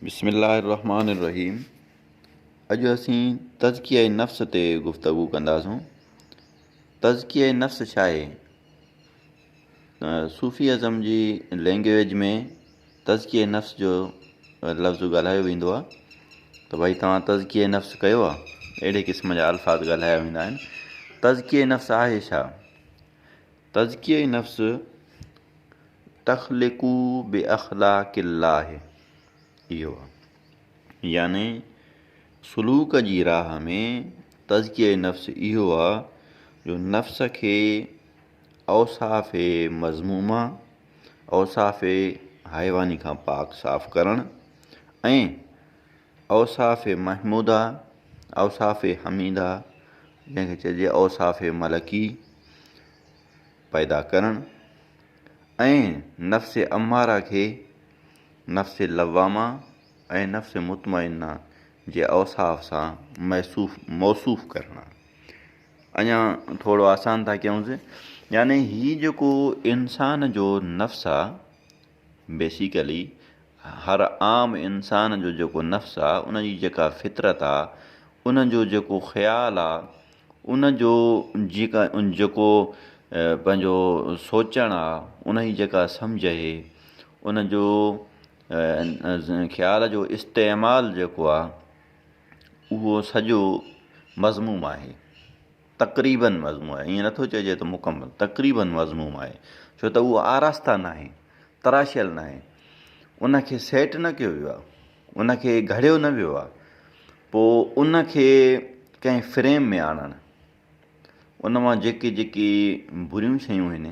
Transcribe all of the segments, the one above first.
بسم الله الرحمٰن الرحيم اڄ اسين تزڪيه نفس تي گفتگو ڪنداسون تزڪيه نفس ڇا آهي صوفي ازم جي لينگويج ۾ تزڪيه نفس جو لفظ ڳالهايو ويندو آهي ته ڀائی توهان تزڪيه نفس ڪيو آهي اهڙي قسم جا الفاظ ڳالهايا ويندا آهن تزڪيه نفس آهي ڇا تزڪيه نفس تخلقو باخلاق الله اهو آ يعني سلوڪ جي راهه ۾ تزڪيه نفس اهو آ جو نفس کي اوصاف مذمومه اوصاف حيواني کان پاڪ صاف ڪرڻ ۽ اوصاف محموده، اوصاف حميده، جنهن کي چئجي اوصاف ملڪي، پيدا ڪرڻ ۽ نفس اماره کي نفس لوامه ۽ نفس مطمئنه جي اوصاف سان موصوف موصوف ڪرڻ اڃا ٿورو آسان ٿا ڪيونس يعني هي جيڪو انسان جو نفس آ بيسيڪلي هر عام انسان جو جيڪو نفس آ ان جي جيڪا فطرت آ ان جو جيڪو خيال آ ان جو جيڪا جيڪو پنهنجو سوچڻ آ ان جي جيڪا سمجهه اهي ان جو خيال جو استعمال جيڪو آ اهو سڄو مضموم آهي تقريباً مضموم آهي، ائين نٿو چئجي ته مڪمل، تقريباً مضموم آهي، ڇو ته اهو آراسته ناهي، تراشيل ناهي، ان کي سيٽ نه ڪيو ويو آهي، ان کي گهڙيو نه ويو آهي، پوء ان کي ڪنهن فريم ۾ آڻڻ، ان مان جيڪي جيڪي بريون شيون آهن،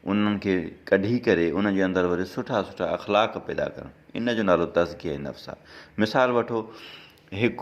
انهن کي ڪڍي ڪري ان جي اندر وري سٺا سٺا اخلاق پيدا ڪرڻ، ان جو نالو تزڪيه نفس آهي. مثال وٺو هڪ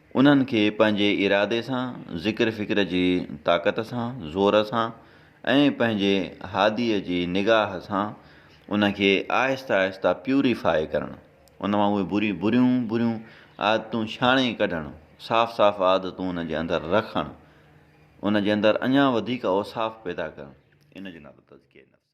انهن کي پنهنجي ارادي سان، ذڪر فڪر جي طاقت سان، زور سان ۽ پنهنجي هاديء جي نگاهه سان ان کي آهستي آهستي پيوري فاء ڪرڻ، ان مان اهي بري بريون بريون عادتون ڇاڻي ڪڍڻ، صاف صاف عادتون ان جي اندر رکڻ، ان جي اندر اڃا وڌيڪ اوصاف پيدا ڪرڻ، ان جو نالو تزڪيه نفس آهي.